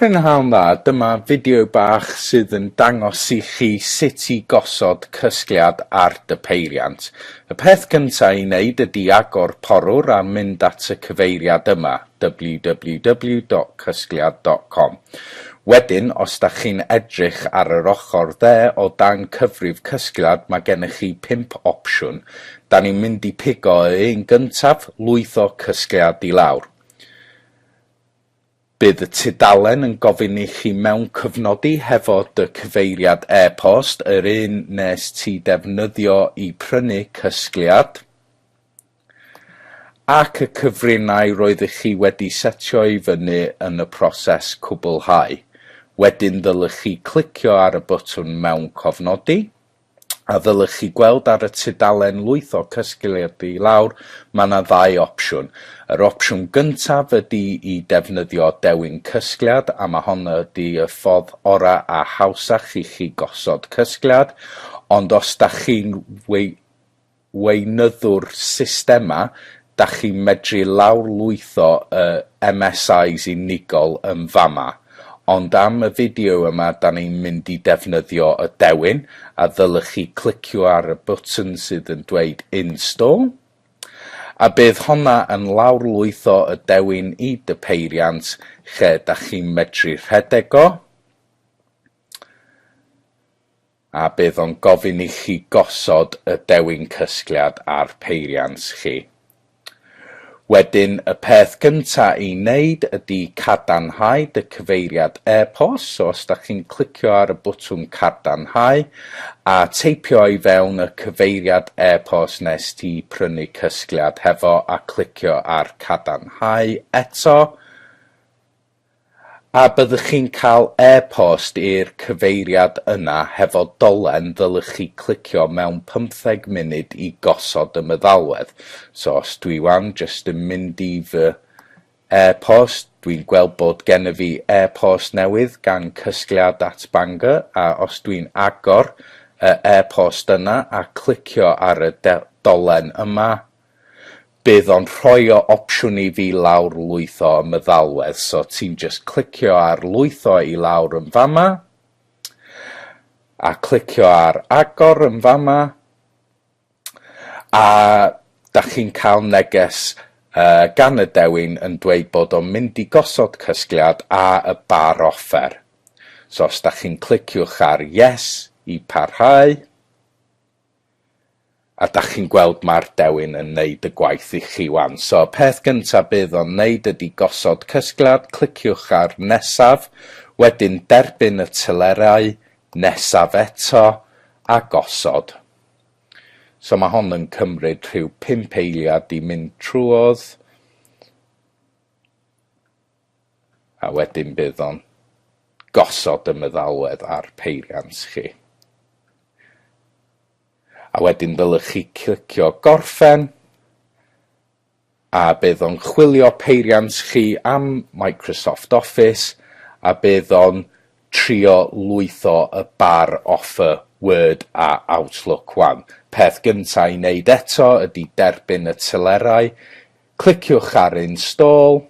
Prynhawn dda, dyma fideo bach sydd yn dangos i chi sut i gosod cysgliad ar dy peiriant. Y peth gyntaf i wneud ydy agor porwr a mynd at y cyfeiriad yma, www.cysgliad.com. Wedyn, os da chi'n edrych ar yr ochr dde o dan cyfrif cysgliad mae gennych chi pump opsiwn, Dan ni'n mynd i pigo y un gyntaf, lwytho Cysgliad i lawr. Bydd y tudalen yn gofyn i chi mewncofnodi hefo dy cyfeiriad e-post, yr un nes ti defnyddio i prynu Cysgliad, ac y cyfrinair roeddych chi wedi setio i fyny yn y proses cwblhau. Wedyn ddylech chi clicio ar y botwm mewncofnodi. a ddylech chi gweld ar y tudalen lwytho cysgleirddu i lawr, mae yna ddau opsiwn. Yr opsiwn gyntaf ydy i defnyddio dewin cysgliad a mae hon ydy y ffordd orau a hawsach i chi gosod cysgliad, ond os da chi'n wei- weinyddu'r systemau, dach chi'n medru lawrlwytho y MSIs unigol yn fama. Ond am y fideo yma 'dan ni'n mynd i defnyddio y dewin, a ddylech chi clicio ar y bwtwn sydd yn dweud Install, a bydd honna yn lawrlwytho y dewin i dy peiriant lle dach chi'n medru rhedeg o. A bydd o'n gofyn i chi gosod y dewin cysgliad ar peiriant chi. Wedyn y peth gynta i neud ydi cadarnhau dy cyfeiriad e-post, so os da chi'n clicio ar y bwtwm cardarnhau a teipio i fewn y cyfeiriad e-post nes ti prynu cysgliad hefo a clicio ar cadarnhau eto, A byddwch chi'n cael e-post i'r cyfeiriad yna hefo dolen ddylech chi clicio mewn pymtheg munud i gosod y meddalwedd. So os dwi wan jyst yn mynd i fy e-post, dwi'n gweld bod gennyf fi e-post newydd gan Cysgliad at Bangor a os dwi'n agor y e-post yna a clicio ar y dolen yma, Bydd o'n rhoi o opsiwn i fi lawr lwytho y meddalwedd so ti'n just clicio ar lwytho i lawr yn fama a clicio ar agor yn fama a da chi'n cael neges uh, gan y dewin yn dweud bod o'n mynd i gosod cysgliad a y bar offer. So os da chi'n cliciwch ar yes i parhau, A dach chi'n gweld ma'r dewin yn neud y gwaith i chi wan. So y peth gynta bydd o'n neud ydi gosod cysgliad, cliciwch ar nesaf, wedyn derbyn y telerau, nesaf eto, a gosod. So ma' hon yn cymryd rhyw pump eiliad i mynd trwodd. A wedyn bydd o'n gosod y meddalwedd ar peiriant chi. A wedyn ddylech chi clicio gorffen a bydd o'n chwilio peiriant chi am Microsoft Office a bydd o'n trio lwytho y bar offer Word a Outlook 1. Peth gynta' i wneud eto ydy derbyn y telerau Cliciwch ar Install.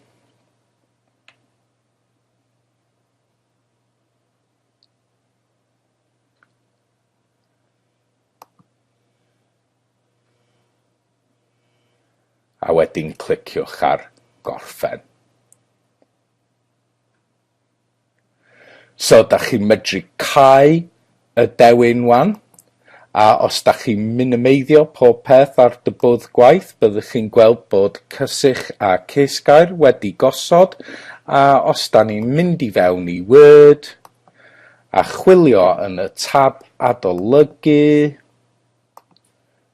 A wedyn cliciwch ar Gorffen. So dach chi'n medru cau y dewin wan, a os dach chi'n minimeiddio pob peth ar dy bwrdd gwaith byddwch chi'n gweld bod cysych a ceisgair wedi gosod, a os da ni'n mynd i fewn i Word a chwilio yn y tab adolygu,